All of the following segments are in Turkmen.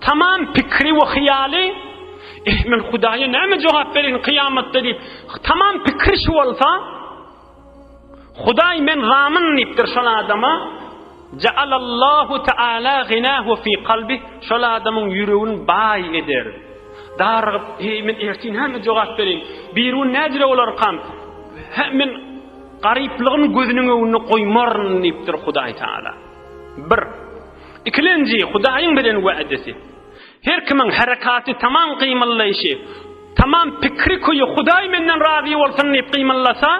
Tamam pikri we hyýaly, Eh, men Hudaýa näme jogap bereýin kyýamatda diýip, tamam pikri şu bolsa, Hudaý men zamin diýipdir şol adama, Ja'alallahu ta'ala ginahu fi kalbi, şol adamyň ýüregini baý eder. Darygyp, eý men erti näme jogap bereýin? Birun nädire bolarkam? Hä men garyplygymy gözüniň öňünde goýmaryn diýipdir Hudaý Taala. 1. Ikilenji, Hudaýyň beren wädesi. Her kimiň herekaty, tamam gymyllaýşy, tamam pikri köýi Hudaý menden razy bolsun diýip gymyllasa,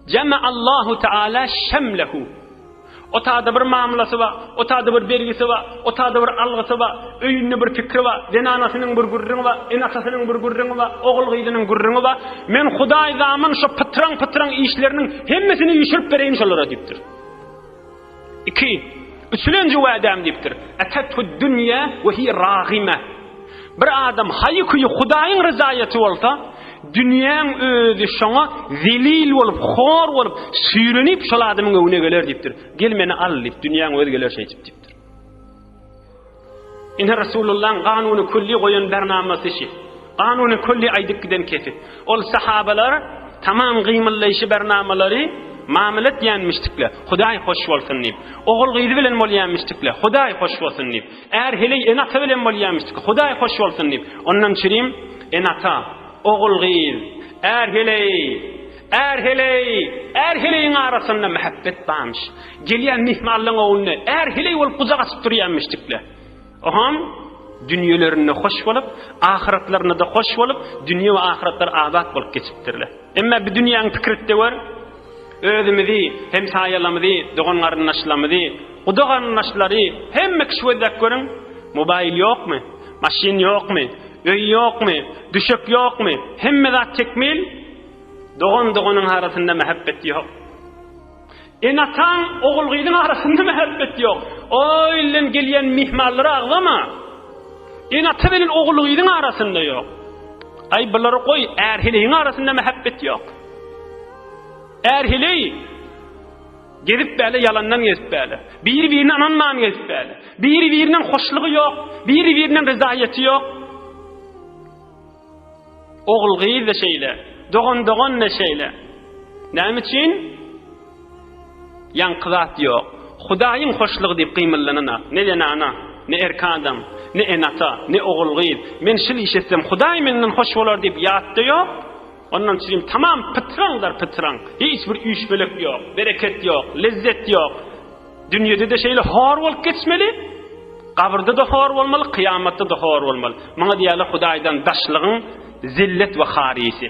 Jama'allahu ta'ala şemlehu. O taýda bir mamlasy bar, o taýda bir bergisi bar, o taýda bir algysy bar, öýünde bir pikri bar, zenanasynyň bir gürrüňi bar, enatasynyň bir gürrüňi bar, ogul-gyzynyň gürrüňi bar. Men Hudaý zaman şu pytraň-pytraň işleriniň hemmesini ýüşürip bereýin şolara diýipdir. Iki, üçlenji wädäm diýipdir. Etethud dünýe we hiýe ragime. Bir adam haýy-küýi Hudaýyň ryzaýaty bolsa, dünýäň özi şoňa zelil bolup, hor bolup, süýrenip şol adamyň öňüne geler diýipdir. Gel meni al diýip, dünýäň özi geler şeýdip diýipdir. Ine Resulullahyň kanuny külli goýan bernamasy şi. Kanuny külli aýdyp giden kesip. Ol sahabalar tamam gymyllaýşy bernamalary mamyl etýänmişdikler. Hudaý hoş bolsun diýip. Ogul gyzy bilen bolýanmişdikler. Hudaý hoş bolsun diýip. Är heleý ene ata bilen bolýanmişdik. Hudaý hoş bolsun diýip. Ondan çirim ene ata, ogul gyz, är heleý, Är heleý, är heleýiň arasynda mähäbbet barmyş. Gelýän myhmanlaryň öňünde är heleý bolup gujak açyp durýarmyşdikler. Oham, dünýelerinde hoş bolup, ahyratlarynada hoş bolup, dünýe we ahyratlar abat bolup geçipdirler. Emma bi dünýäň pikirtde gör, özümizi, hemsaýalamyzy, dogan-garyndaşlamyzy, guda-garyndaşlary, hemme kişi gözläp görüň, mobaýl ýokmy, maşyn ýokmy, öý ýokmy, düşek ýokmy, hemme zat tekmil, Dogan doganyň arasynda mähebbet ýok. Ene-ataň ogul-gyzyň arasynda mähebbet ýok. O ilden gelýän myhmanlara agzama. Ene-ata bilen ogul-gyzyň arasynda ýok. Aý bulary goý, är-heleýiň arasynda mähebbet ýok. Är-heleý gezip bäle ýalandan gezip bäle. Biri-birine ynanman gezip bäle. Biri-birinden hoşlugy ýok, biri-birinden ryzaýaty ýok. Ogul-gyz-da şeýle, dogan-dogan-da şeýle. Näme üçin? Ýaňky zat ýok. Hudaýyň hoşlugy diýip gymyllananok. Ne zenana, ne erki adam, ne ene-ata, ne ogul-gyz, Men şil iş etsem, Hudaý menden hoş bolar diýip ýatda ýok. Ondan çyjym tamam pytraňdar pytraň. Hiç bir üýşmeleik ýok, bereket ýok, lezzet ýok. Dünýede-de şeýle hor bolup geçmeli, gabyrda-da hor bolmaly, kyýamatda-da hor bolmaly. Muňa diýýärler Hudaýdan daşlygyň zillet we harisy.